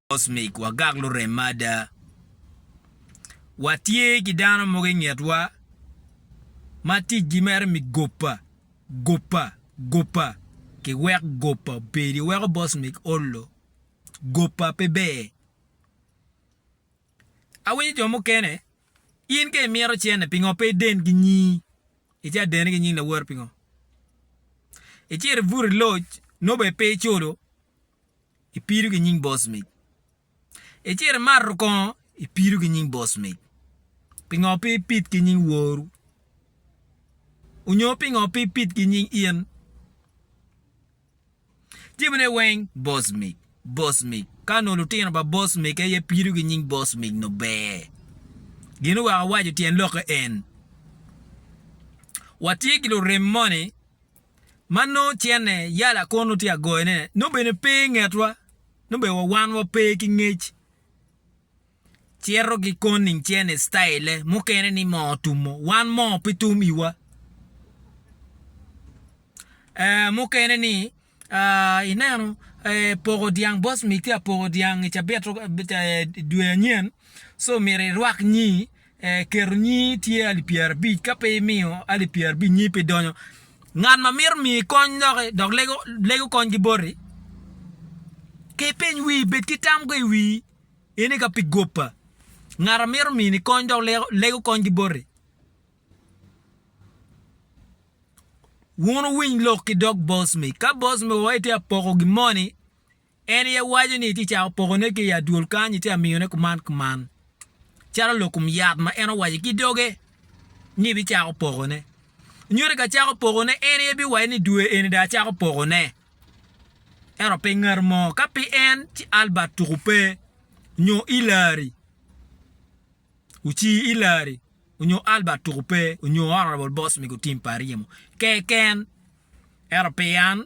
Cosmic, wagak lurem ada. Watye ki dano mogo i ngetwa ma ticgi mere mi gopa, gopa, gopa. Kiwek gopa obedi, weko Bosmic ollo. Gopa pe ber. Awinyo jo mukene, in ka imito cente, pingo pe iden ki nyi? Ica dene ki nying lawote pingo? Icito ibuto i loc, nobbe pe iculo, Ipido ki nying boss mic. Icito imato kongo ipido ki nying boss mic. Pingo pe ipid ki nying woru? Onyo pingo pe ipid ki nying in? Jebine weng boss mic, boss mic. Ka onongo lutino pa boss mic aye pido ki nying boss mic nongo ber. Gin oweko awaco tyen lokke en. Watye ki lurem moni ma nongo cente yala kunu tye ka goyone, nongo bene pe i ngetwa, nongo bene wa wan wa pe ki ngec. Cito ki koning cente citayille mukene ni moo tumo, wan moo pe tum iwa. Ee, mukene ni ineno poko dyang boss miti apoko dyang i cabit dwe anyen, so myero irwak nyi. Keto nyingi tye alip pyerabic, ka pe imiyo alip pyerabic nyingi pe donyo. Ngat ma mito miyi kony loki dok lego kony ki boti, ka ipeny wii bed ki tam go i wii in ika pi gopa ngat a mito mini kony dok lego kony ki boti. Wun wuwiny lok ki dog boss mi, ka boss mi owaci tye ka poko gin moni En aye waco ni tye cako pokone ki i adwol kany ite amiyone kuman kuman, calo lokum yat ma en owaco ki doge ni bicako pokone. Nyuto ka cako pokone, en aye biwaco ni dwe eni dong acako pokone. Ento pi ngat mo, ka pe en ci Albert tuku pe, nyo Hillary, ocii Hillary, onyo Albert tuku pe, onyo Honourable Boss Migo Tim Pariemo, keken. Ento pi an.